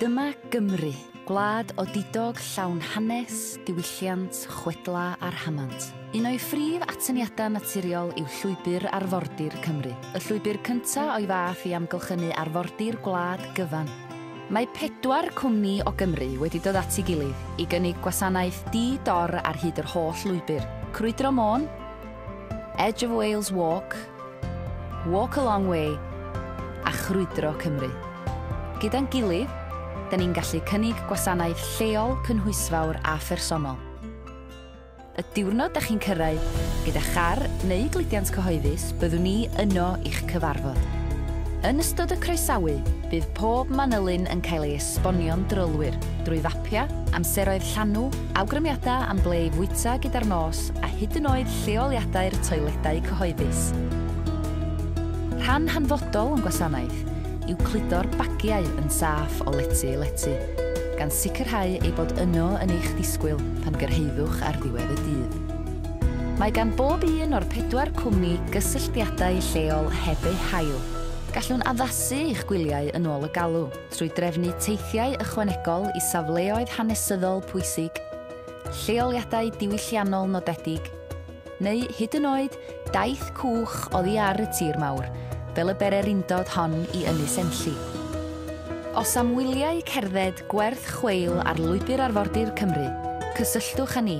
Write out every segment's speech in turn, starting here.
Dyma Gymru, gwlad odidog llawn hanes, diwylliant, chwedla a rhamant. Un o'i phrif atyniadau naturiol yw Llwybr Arfordir Cymru, y llwybr cynta o'i fath i amgylchynu arfordir gwlad gyfan. Mae pedwar cwmni o Gymru wedi dod at ei gilydd i gynnig gwasanaeth di-dor ar hyd yr holl lwybr, Crwydro Môn, Edge of Wales Walk, Walk a Long Way a Chrwydro Cymru. Gyda'n gilydd, da ni'n gallu cynnig gwasanaeth lleol cynhwysfawr a phersonol. Y diwrnod da chi'n cyrraedd, gyda char neu gludiant cyhoeddus, byddwn ni yno i'ch cyfarfod. Yn ystod y croesawu, bydd pob manylyn yn cael ei esbonio'n drylwyr drwy siopia, amseroedd llanw, awgrymiadau am ble i fwyta gyda'r nos a hyd yn oed lleoliadau'r toiledau cyhoeddus. Rhan hanfodol o'n gwasanaeth yw cludo'r bagiau yn saff o lety i lety, gan sicrhau eu bod yno yn eich disgwyl pan gyrhaeddwch ar ddiwedd y dydd. Mae gan bob un o'r pedwar cwmni gysylltiadau lleol heb eu hail. Gallwn addasu eich gwyliau yn ôl y galw. trwy drefnu teithiau ychwanegol i safleoedd hanesyddol pwysig, lleoliadau diwylliannol nodedig, neu hyd yn oed daith cwch oddi ar y tir mawr, fel y bererindod hon i Ynys Enlli. Os am wyliau cerdded gwerth chweil ar Lwybr Arfordir Cymru, cysylltwch â ni,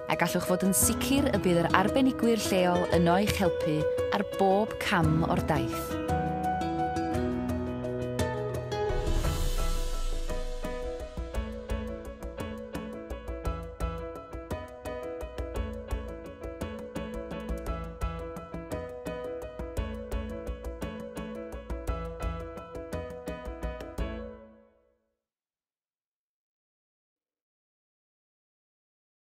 a gallwch fod yn sicr y bydd yr arbenigwyr lleol yno i'ch helpu ar bob cam o'r daith.